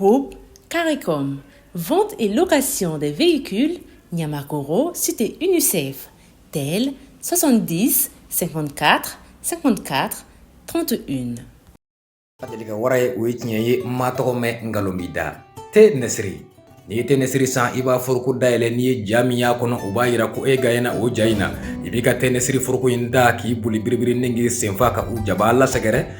Groupe CARICOM, vente et location des véhicules, Niamakoro, cité UNICEF, tel 70 54 54 31. N ma deli ka wara ye o ye tiɲɛ ye n m'a tɔgɔ mɛn nkalon b'i da te nɛsiri n'i ye te nɛsiri san i b'a foroko dayɛlɛ n'i ye ja min y'a kɔnɔ o b'a yira ko e gaɲɛna o ja in na i b'i ka te nɛsiri foroko in ta k'i boli biribiri ni k'i senfa ka u jabaa lasɛgɛrɛ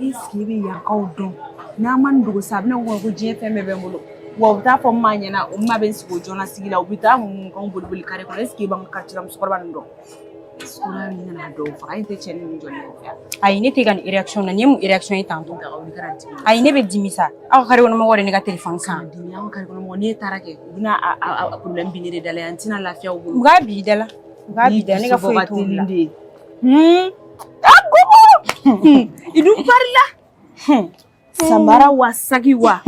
Est-ce que i bɛ yankaw dɔn n'a ma dugu sa a bɛna ko ko diɲɛ fɛn bɛɛ bɛ n bolo wa u t'a fɔ maa ɲɛna u ma bɛ n sigi jɔn sigi la u bɛ taa mun kan boli boli carré kɔnɔ est-ce que i b'an quartier la musokɔrɔba nin dɔn dɔw faga e tɛ cɛ ni jɔn ayi ne tɛ ka nin réaction na nin ye mun réaction ye tantɔ ayi ne bɛ dimi sa aw carré kɔnɔ mɔgɔ de ne ka telefɔni san dimi aw carré kɔnɔ mɔgɔ n'e taara kɛ u bɛna a problème bin ne de da la yan n tɛna lafiya u bolo u k'a bin da la u k'a bin da la ne ka foyi t'u la idu farila samara wa saki wa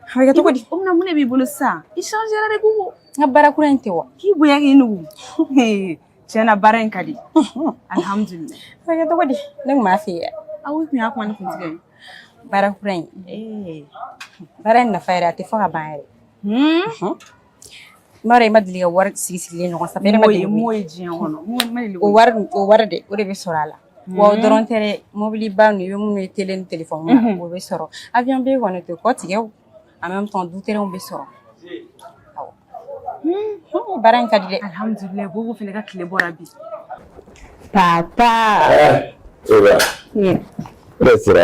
a bɛ kɛ cogo di o mina mun de b'i bolo sisan i changera dɛ kogo n ka baara kura in tɛ wa k'i bonya k'i nugu tiɲɛna baara in ka di alhamdulilayi a bɛ kɛ cogo di ne tun b'a fɛ yen aw tun y'a kuma ne kun tigɛ baara kura in baara in nafa yɛrɛ a tɛ fɔ ka ban yɛrɛ M'a dɔn i ma deli ka wari sigi sigilen ɲɔgɔn sanfɛ e ma deli k'o ye diɲɛ kɔnɔ ma deli k'o ye o wari o wari dɛ o de bɛ sɔrɔ a la wa o dɔrɔn tɛ dɛ mobiliba ninnu i bɛ minnu ye tele ni telefɔni na o bɛ sɔrɔ avion billet kɔni o tɛ kɔtigɛ o en même temps du terrain bɛ sɔrɔ awɔ baara in ka di dɛ alihamudulilayi Bobo fana ka tile bɔra bi papa e ba ne sera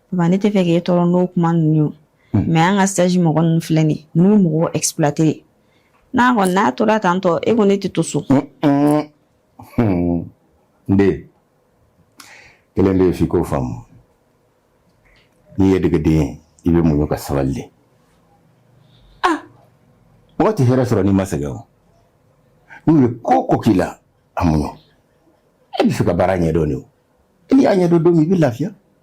Ba ne tɛ fɛ k'e tɔɔrɔ n'o kuma ninnu ye o, unhun, mais an ka stage mɔgɔ ninnu filɛ nin ye, ninnu bɛ mɔgɔw exploiter de, n'a kɔni n'a tora tan tɔ e ko ne tɛ to so. N den, kelen bɛ yen f'i k'o faamu, n'i ye degeden ye i bɛ muɲu ka sabali de, ah, mɔgɔ tɛ hɛrɛ sɔrɔ n'i ma sɛgɛn o, n'u ye ko o ko k'i la a muɲu, e bɛ fɛ ka baara ɲɛdɔn de o, n'i y'a ɲɛdɔn don min i bɛ lafiya.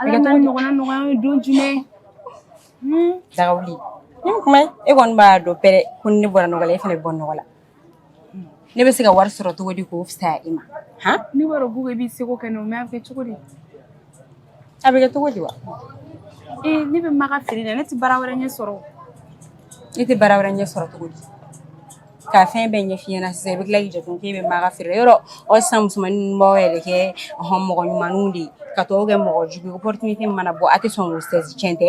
Ala t'o ɲɔgɔnna nɔgɔya ye don jumɛn daga wuli ni kuma e kɔni b'a dɔn pɛrɛ ko ni ne bɔra nɔgɔ la e fana bɛ bɔ nɔgɔ la ne bɛ se ka wari sɔrɔ cogo di k'o fisaya i ma han ne b'a dɔn ko i b'i seko kɛ n'o mais a bɛ kɛ cogo di a bɛ kɛ cogo di wa ee ne bɛ maga feere la ne tɛ baara wɛrɛ ɲɛ sɔrɔ ne tɛ baara wɛrɛ ɲɛ sɔrɔ cogo di ka fɛn bɛɛ ɲɛf'i ɲɛna sisan i bɛ tila k'i jate k'e bɛ maga feere yɔrɔ aw sisan musomanin ninnu b'aw yɛrɛ kɛ mɔgɔ ɲumanw de ye ka tɔw kɛ mɔgɔ jugu ye opportunité min mana bɔ a tɛ sɔn k'o saisir tiɲɛ tɛ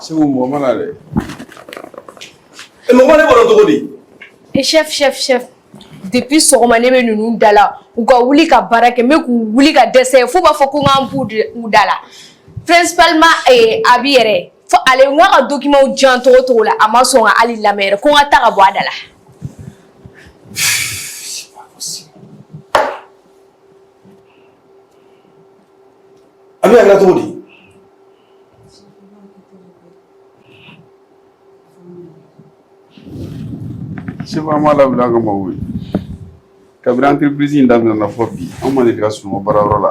segu mɔgɔ mana dɛ mɔgɔ ma ne bɔra cogo di e chef chef chef depuis sɔgɔma ne bɛ ninnu da la u ka wuli ka baara kɛ n bɛ k'u wuli ka dɛsɛ f'u b'a fɔ ko n ka n bɔ u da la principalement eh, Abi yɛrɛ fo ale n k'a ka dokimanw jan togo togo la a ma sɔn ka hali lamɛn yɛrɛ ko n ka taa ka bɔ a da la Abi a kɛra cogo di chef an ma labila an ka mɔgɔw ye kabini entreprise in daminɛna fo bi an ma deli ka sunɔgɔ baarayɔrɔ la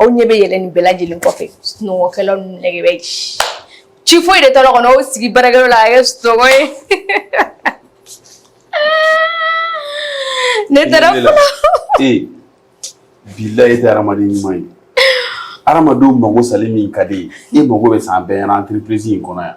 aw ɲɛ bɛ yɛlɛ nin bɛɛ lajɛlen kɔfɛ sunɔgɔkɛlaw ni nɛgɛ bɛ ci ci foyi de t'a la kɔnɔ aw sigi baarakɛyɔrɔ la a kɛ sunɔgɔ ye ne taara fɔlɔ ee bilayi e tɛ hadamaden ɲuman ye hadamadenw magosali min ka di e ye e mago bɛ sa an bɛɛ ɲɛ na entreprise in kɔnɔ yan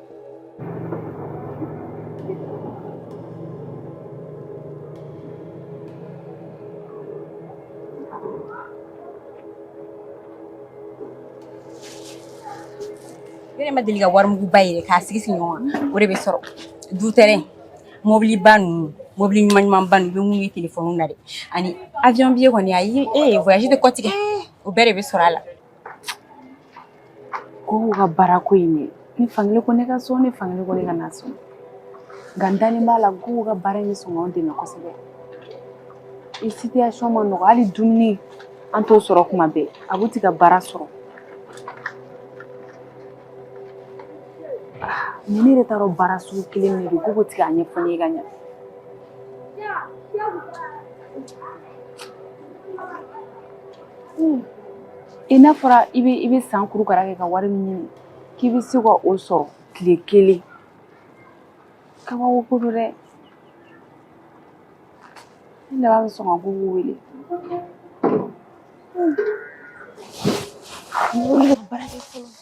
Ne yɛrɛ ma deli ka warimuguba yɛrɛ k'a sigi sigi ɲɔgɔn kan o de bɛ sɔrɔ du tɛrɛn mɔbiliba ninnu mɔbili ɲuman ɲumanba ninnu i bɛ min ye telefɔni na dɛ ani awiyɔn biye kɔni ayi voyage tɛ kɔtigɛ o bɛɛ de bɛ sɔrɔ a la Gogo ka baara ko in ne ni fankelen ko ne ka sɔn ni fankelen ko ne kana sɔn nka n dalen b'a la Gogo ka baara in bɛ sɔn k'an dɛmɛ kosɛbɛ i situation ma nɔgɔ hali dumuni an t'o sɔrɔ kuma bɛɛ Abu ti ka baara sɔrɔ mais ne yɛrɛ t'a dɔn baara sugu kelen de don Gogo ti k'a ɲɛfɔ ne ye ka ɲɛ i n'a fɔra i bɛ san kurukara kɛ ka wari min ɲini k'i bɛ se ka o sɔrɔ tile kelen kabako ko don dɛ ne laban bɛ sɔn ka Gogo wele ne bɛ baara kɛ fɔlɔ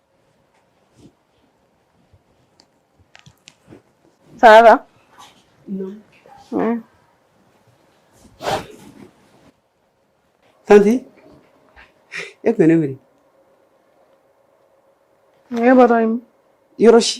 Sara, tanti e kun bɛ ne wele e bɔtɔ min yɔrɔ si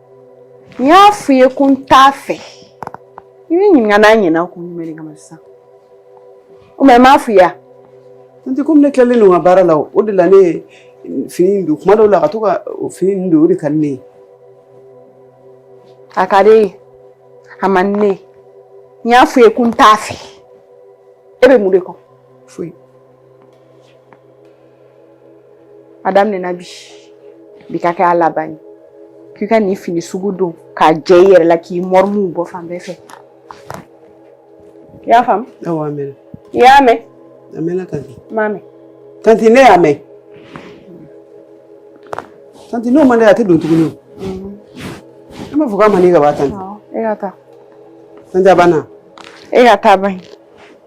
n y'a f'i ye ko n t'a fɛ i bɛ ɲininka n'a ɲɛna kun jumɛn de kama sisan o mais n m'a f'i ye wa tanti komi ne tilalen don n ka baara la o de la ne ye fini in don kuma dɔw la ka to ka fini in don o de ka di ne ye a ka di e ye a man di ne ye n y'a f'i ye ko n t'a fɛ e bɛ mun de kɔ foyi a daminɛna bi bi ka kɛ a laban ye k'i ka nin fini sugu don k'a jɛ i yɛrɛ la k'i mɔrimuw bɔ fan bɛɛ fɛ i y'a faamu awɔ a mɛnna i y'a mɛn a mɛnna tanti n m'a mɛn tanti ne y'a mɛn tanti n'o man di a tɛ don tuguni o e m'a fɔ k'a man di ka ban tanti e ka taa tanti a banna e ka taa ban ye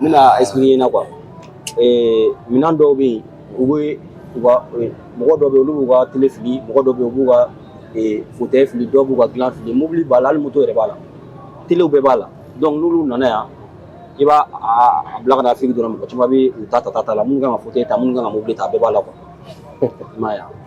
N bɛna expliquer i ɲɛna quoi ee minɛn dɔw bɛ yen u bɛ u ka mɔgɔ dɔw bɛ yen olu b'u ka tele fili mɔgɔ dɔw bɛ yen u b'u ka fauteuil fili dɔw b'u ka dilan fili mobili b'a la hali moto yɛrɛ b'a la telew bɛɛ b'a la donc n'olu nana yan i b'a a bila ka na Afrique dɔrɔn mɔgɔ caman bɛ u ta ta ta la minnu kan ka fauteuil ta minnu kan ka mobili ta a bɛɛ b'a la quoi i m'a ye wa.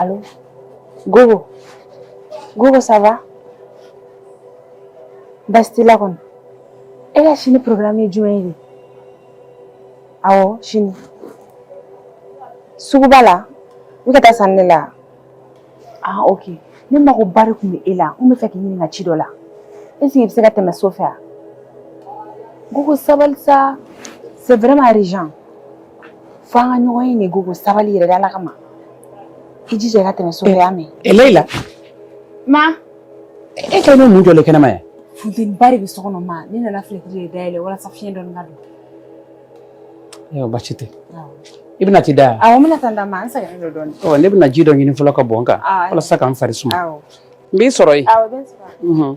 Allô Gogo Gogo ça va baasi t'i la kɔni e ka sini programme ye jumɛn ye awɔ sini suguba la i ka taa sanni la Ah ok ne mago ba de tun bɛ e la n b'a fɛ k'i ɲininka ci dɔ la est ce que i bɛ se ka tɛmɛ so fɛ wa? Gogo sabali sa c'est vraiment urgent fo an ka ɲɔgɔn ye nin ye Gogo sabali yɛrɛ de Ala kama i jija i ka tɛmɛ so fɛ i y'a mɛn. Ɛ Leyila. Ma. E kɛlen bɛ mun jɔlen kɛnɛma yan? Funteniba de bɛ so kɔnɔ ma ne nana filɛtiri de dayɛlɛ walasa fiɲɛ dɔɔni ka don. Ayiwa baasi tɛ i bɛna t'i da wa awɔ n bɛna taa n da ma n sɛgɛnnen don dɔɔnin ɔ ne bɛna ji dɔ ɲini fɔlɔ ka bɔn n kan walasa ka n fari suma n b'i sɔrɔ yen awɔ bɛ n sɔrɔ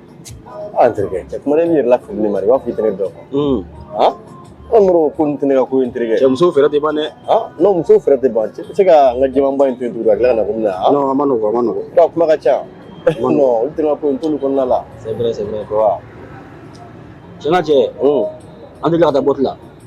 an terikɛ cɛ kuma ne yɛrɛ lafili ne ma i b'a fɔ i tɛ ne dɔn han an mɔrɔ ko nin tɛ ne ka ko in terikɛ cɛ muso fɛɛrɛ tɛ ban dɛ han non muso fɛɛrɛ tɛ ban cɛ tɛ se ka n ka jɛmanba in to yen tugun ka tila ka na ko mina han a man nɔgɔn a man nɔgɔn a kuma ka ca non olu tɛ n ka ko in t'olu kɔnɔna la c'est vrai c'est vrai wa cɛ n'a cɛ an tɛ tila ka taa boîte la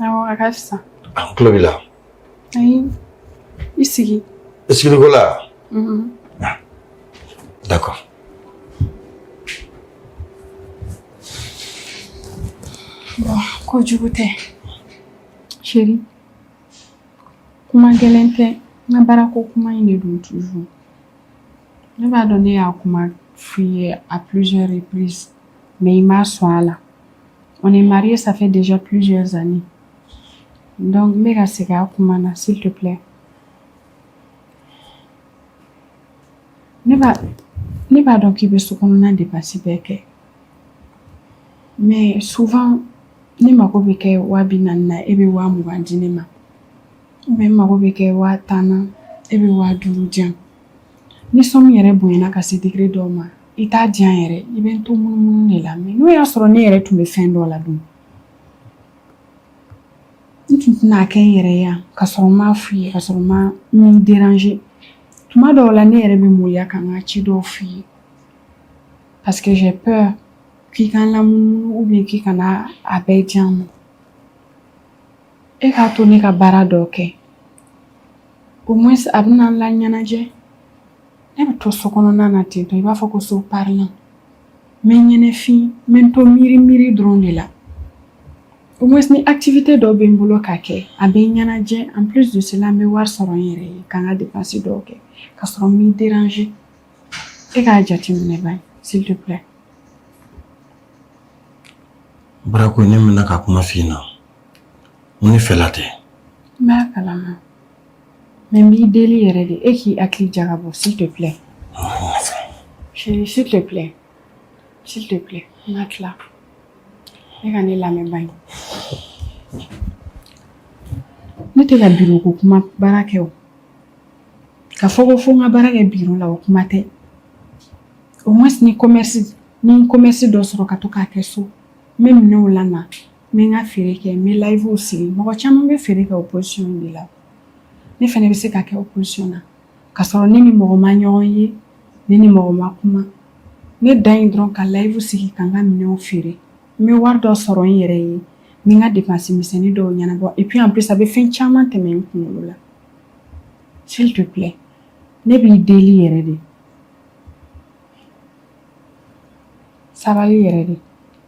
Awɔ a ka fisa. An tulo b'i la. Ayi i sigi. I sigili ko la wa? Unhun. D'accord. Bon ko jugu tɛ. Chérie kuma gɛlɛn tɛ n ka baarako kuma in de don toujours. Ne b'a dɔn ne y'a kuma f'i ye à plusieurs reprises mais i ma sɔn a la. O ni mari sanfɛ dez pzsanni dɔnku bɛ ka segin a kuma na si tɛ filɛ ne b'a dɔn k'i bɛ so kɔnɔna de basi bɛɛ kɛ mɛ sufan ne mago bɛ kɛ waa bɛ na na e bɛ waa mugan di ne ma bɛ mago bɛ kɛ waa tan e bɛ waadu jan ni sɔn yɛrɛ bonyayana ka se digi dɔw ma i t'a di yan yɛrɛ i bɛ n to munumunu de la mais n'o y'a sɔrɔ ne yɛrɛ tun bɛ fɛn dɔ la dun n tun tɛna kɛ n yɛrɛ yan ka sɔrɔ n m'a f'i ye ka sɔrɔ n m'i déranger tuma dɔw la ne yɛrɛ bɛ maloya ka n ka ci dɔw f'i ye parce que j'ai peur k'i ka n lamunumunu ou bien k'i kana a bɛɛ di yan ma e k'a to ne ka baara dɔ kɛ au moins a bɛna n laɲɛnajɛ Ne bɛ to so kɔnɔna na ten to i b'a fɔ ko so parilan n bɛ ɲɛnafin n bɛ to miiri miiri dɔrɔn de la au moins ni activité dɔ bɛ n bolo ka kɛ a bɛ n ɲɛnajɛ en plus de cela n bɛ wari sɔrɔ n yɛrɛ ye ka n ka dépense dɔw kɛ ka sɔrɔ n m'i déranger e k'a jateminɛ bani s'il te plaît baara ko ne mɛɛnna ka kuma f'i ɲɛna mun fɛla tɛ n b'a kala Mais n b'i deli yɛrɛ de e k'i hakili jagabɔ s'il te plaît s'il te plaît s'il te plaît n ka tila e ka ne lamɛn bani ne tɛ ka biro ko kuma baara kɛ o ka fɔ ko fo n ka baara kɛ biro la o kuma tɛ au moins ni commerce ni commerce dɔ sɔrɔ ka to k'a kɛ so n bɛ minɛnw la N bɛ n ka feere kɛ n bɛ livew sigi mɔgɔ caman bɛ feere kɛ o position de la ne fana bɛ se ka kɛ o position na ka sɔrɔ ne ni mɔgɔ ma ɲɔgɔn ye ne ni mɔgɔ ma kuma ne dan ye dɔrɔn ka live sigi ka n ka minɛnw feere n bɛ wari dɔ sɔrɔ n yɛrɛ ye n bɛ n ka dépense misɛnnin dɔw ɲɛnabɔ et puis en plus a bɛ fɛn caman tɛmɛ n kunkolo la s'il te plaît ne b'i deli yɛrɛ de sabali yɛrɛ de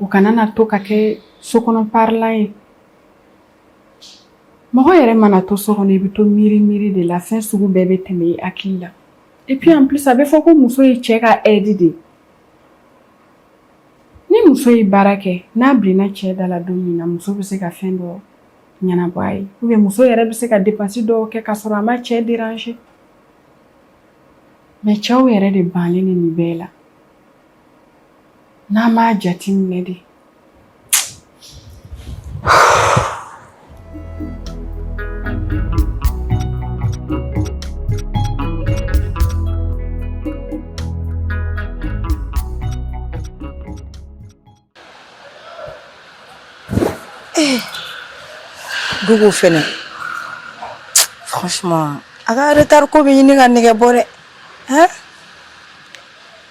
u kana na to ka kɛ sokɔnɔ parilan ye mɔgɔ yɛrɛ mana to so kɔnɔ i bɛ to miiri miiri de la fɛn sugu bɛɛ bɛ tɛmɛ i hakili la et puis en plus a bɛ fɔ ko muso ye cɛ ka aide de ye ni muso ye baara kɛ n'a bilenna cɛ da la don min na muso bɛ se ka fɛn dɔ ɲɛnabɔ a ye ou bien muso yɛrɛ bɛ se ka dépense dɔw kɛ ka sɔrɔ a ma cɛ déranger mais cɛw yɛrɛ de bannen nin bɛɛ la N'a m'a jate minɛ de Gogo fɛnɛ franchement a ka retard ko bɛ ɲini ka nɛgɛ bɔ dɛ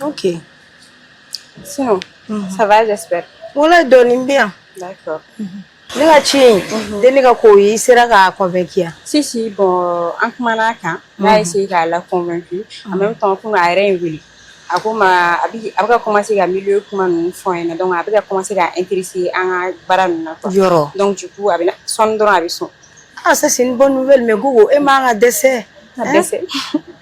ok sinon mhm. ça va j'espère wala dɔɔnin bɛ yan d'accord mhm. ne ka ci in mhm. dennin ka ko i sera k'a convaincu yan si si bon an kumana a kan n y'a essayé k'a la convaincu en même temps komi a yɛrɛ ye n wele a ko ma a bɛ a bɛ ka commencer ka milieu kuma ninnu fɔ n ɲɛna donc a bɛ ka commencer ka intéresser an ka baara ninnu na quoi yɔrɔ donc du coup a bɛ na sɔɔni dɔrɔn a bɛ sɔn Ah ça c'est une bonne nouvelle mais Gogo e man ka dɛsɛ. Ka dɛsɛ.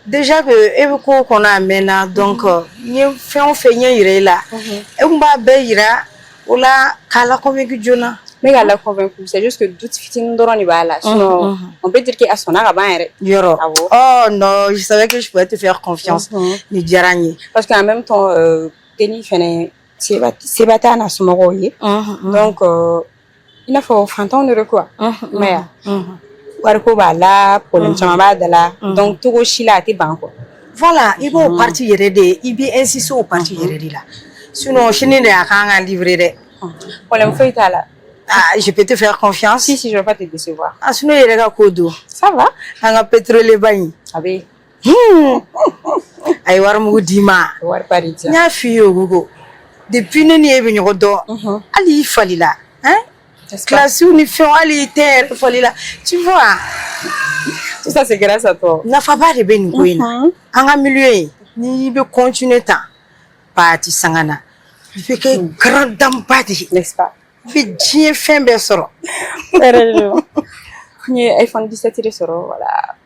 Déjà que e bɛ ko kɔnɔ a mɛɛnna donc euh, n ye fɛn o fɛn ɲɛ yira e la. Mhm. E kun b'a bɛɛ yira o la k'a la convaincre joona. Ne k'a la convaincre c'est juste que doute fitinin dɔrɔn de b'a la. Sinon mhm. on peut dire que a sɔnna ka ban yɛrɛ. Yɔrɔ. Awɔ. Oh non je savais que je pouvais te faire confiance. Mhm. Nin diyara n ye. Parce que en même temps euh, dennin fɛnɛ seba t'a n'a somɔgɔw ye. Donc euh, i n'a fɔ fantanw de don quoi i m'a ye wa wariko b'a la problème caman b'a da la donc cogo si la a tɛ ban quoi voilà i b'o partie yɛrɛ de i bɛ insister o partie yɛrɛ de la sinon sini de a kan ka livrer dɛ problème foyi t'a la Ah, je peux te faire confiance. Si, si, je ne vais pas te décevoir. Ah, sinon, i yɛrɛ ka ko dun Ça va An ka pétrolier ba in. Ah, oui. a ye wari mugu d'i ma wari ba de di n y'a f'i ye o Gogo depuis ne ni e bɛ ɲɔgɔn dɔn Mhm. hali i falila hein? N'est-ce pas? kilasiw ni fɛnw hali i teint yɛrɛ falila tu vois tout ça c'est grâce à toi nafaba de bɛ nin ko in na Mhm. an ka milieu in n'i bɛ continuer tan pati sangana i bɛ kɛ grande dame ba de ye n'est-ce pas i bɛ diɲɛ fɛn bɛɛ sɔrɔ yɛrɛ de don n ye iphone 17 de sɔrɔ voilà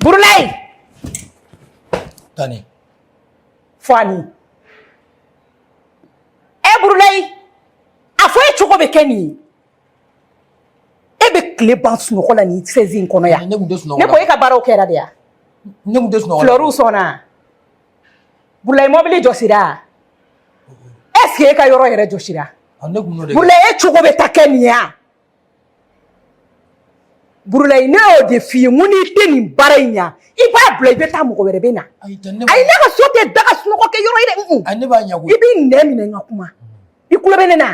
Burlay! Tani. Fani. E Burlay! A fɔ e cogo bɛ kɛ nin ye. E bɛ tile ban sunɔgɔ la nin sɛzi in kɔnɔ yan. Ne tun tɛ sunɔgɔ la. Ne ko e ka baaraw kɛra de yan. Ne tun tɛ sunɔgɔ la. Fleurs sɔnna. Burlay mɔbili jɔsira. Est-ce que e ka yɔrɔ yɛrɛ jɔsira? Ne tun y'o de kɛ. Burlay e cogo bɛ taa kɛ nin ye yan. Burlay ne y'o de f'i ye n ko n'i tɛ nin baara in ɲa i b'a bila i bɛ taa mɔgɔ wɛrɛ bɛ na ayi tɛ ne ayi ne ka so tɛ da ka sunɔgɔ kɛ yɔrɔ ye dɛ un-un. ayi ne b'a ɲɛ koyi i b'i nɛn minɛ n ka kuma i tulo bɛ ne na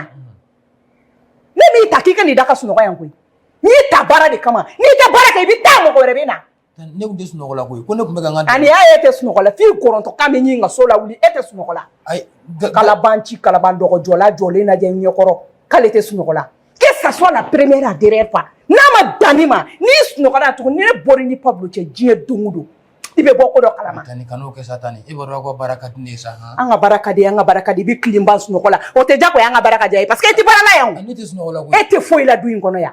ne m'i ta k'i ka n'i da ka sunɔgɔ yan koyi n y'i ta baara de kama n'i tɛ baara kɛ i bɛ taa mɔgɔ wɛrɛ bɛ na Ne kun tɛ sunɔgɔ la koyi, ko ne kun bɛ ka n ka, Ani y'a ye e tɛ sunɔgɔ la, f'i kɔrɔndɔ kan bɛ ɲini ka so lawuli, e tɛ sunɔgɔ la, ayi, kalabanci kalaban dɔgɔ jɔla jɔlen lajɛ n ɲɛkɔrɔ k'ale tɛ sunɔgɔ la, que ça soit la première la dernière fois n'a ma dan nin ma n'i sunɔgɔra yan tugun ni ne bɔra i ni Pablo cɛ diɲɛ don o don i bɛ bɔ ko dɔ kalama, Tani kan'o kɛ sa Tani, e b'a dɔn aw ka baara ka di ne ye sa, han, an ka baara ka di an ka baara ka di, i bɛ tile ban sunɔgɔ la o tɛ diyagoya ye an ka baara ka diya i ye parce que i tɛ baara la yan o, ne tɛ sunɔgɔ la koyi, e tɛ foyi la du in kɔnɔ yan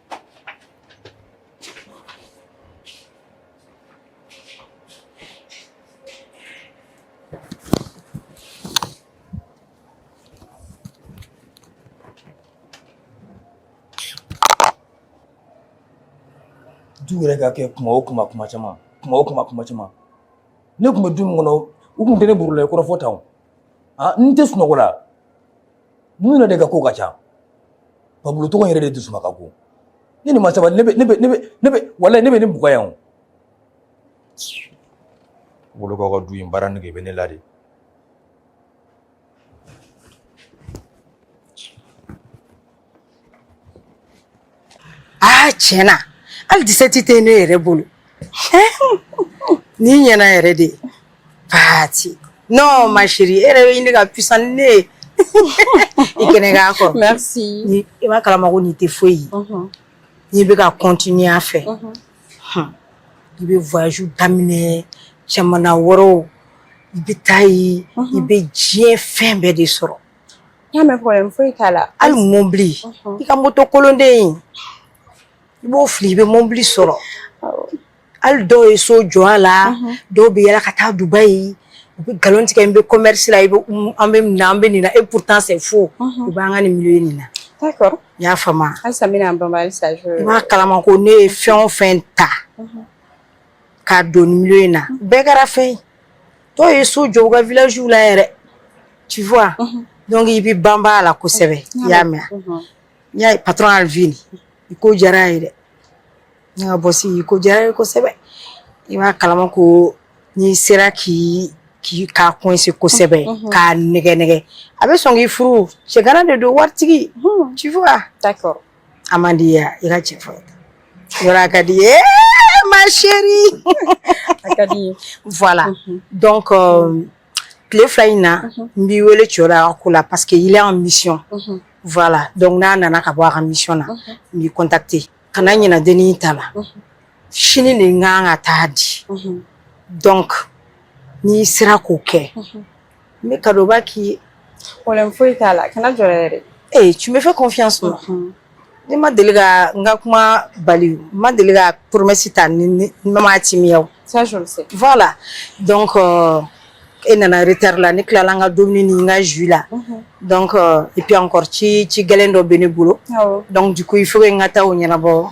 du yɛrɛ ka kɛ kuma o kuma kuma caman kuma o kuma kuma caman ne kun bɛ du min kɔnɔ u kun tɛ ne Burulayi kɔrɔfɔ tan o Ah, n tɛ sunɔgɔ la ninnu yɛrɛ de ka ko ka ca Pablo tɔgɔ yɛrɛ de dusuma ka go ni nin ma sabali ne bɛ ne bɛ ne bɛ ne bɛ walayi ne bɛ nin bugɔ yan o Pablo ka du in baara nege bɛ ne la de aa tiɲɛ na hali dix-sept tɛ ne yɛrɛ bolo nin ɲɛna yɛrɛ de pati non ma chérie e yɛrɛ bɛ ɲini ka puissant ni ne ye i kɛnɛ ka kɔrɔ merci i b'a kalama ko nin tɛ foyi ye n'i bɛ ka continuer a fɛ i bɛ voyage daminɛ jamana wɛrɛw i bɛ taa yen i bɛ diɲɛ fɛn bɛɛ de sɔrɔ n y'a mɛn problème foyi t'a la hali mobili i ka moto kolonden in i b'o fili i bɛ mobili sɔrɔ hali dɔw ye so jɔ a la dɔw bɛ yala ka taa Dubaï u bɛ nkalon tigɛ n bɛ commerce la i bɛ an bɛ nin na an bɛ nin na et pourtant c'est faux u b'an ka nin milieu nin na d'accord n y'a faamu halisa n bɛna n banba halisa i b'a kalama ko ne ye fɛn o fɛn ta k'a don nin milieu in na bɛɛ kɛra fɛn ye dɔw ye so jɔ u ka villages la yɛrɛ tu vois donc i bɛ banba a la kosɛbɛ i y'a mɛn n y'a ye patron Alvin i ko diyara a ye dɛ ne ka boss i ko diyara a ye kosɛbɛ i b'a kalama ko n'i sera k'i k'i k'a coincer kosɛbɛ k'a nɛgɛn nɛgɛn a bɛ sɔn k'i furu cɛgana de don waritigi tu vois d'accord a man di ye i ka cɛ fɔ yɔrɔ a ka di ye ma chérie a ka di voilà donc tile fila in na n b'i wele cɛ la a ka ko la parce que il est en mission voilà donc n'a nana ka bɔ a ka mission na n b'i contacter kana ɲina dennin ta la sini de n kan k'a ta di donc n'i sera k'o kɛ n bɛ cadeauba k'i ye problème foyi t'a la kana jɔrɛ yɛrɛ ee tu me fais confiance ma ne ma deli ka n ka kuma bali n ma deli ka promesse ta ni ne ma timiya o ça je le sais voilà donc euh, e nana retard la ne tilala n ka dumuni ni n ka jus la donc euh, et puis encore ci gɛlɛn dɔ bɛ ne bolo awɔ donc du coup il faut que n ka taa o ɲɛnabɔ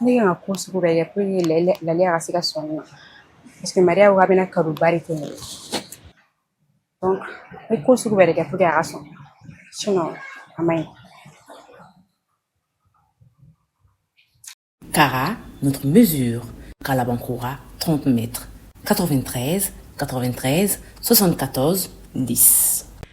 Ne kan ka ko sugu bɛɛ kɛ pour que Lale ka se ka sɔn ne ma parce que Maria ko a bɛna cadeauba de kɛ ne ye donc n bɛ ko sugu bɛɛ de kɛ pour que a ka sɔn sinon a man ɲi kara kalabankura tɔn tun bɛ ka ka ka sɔsɔ ka di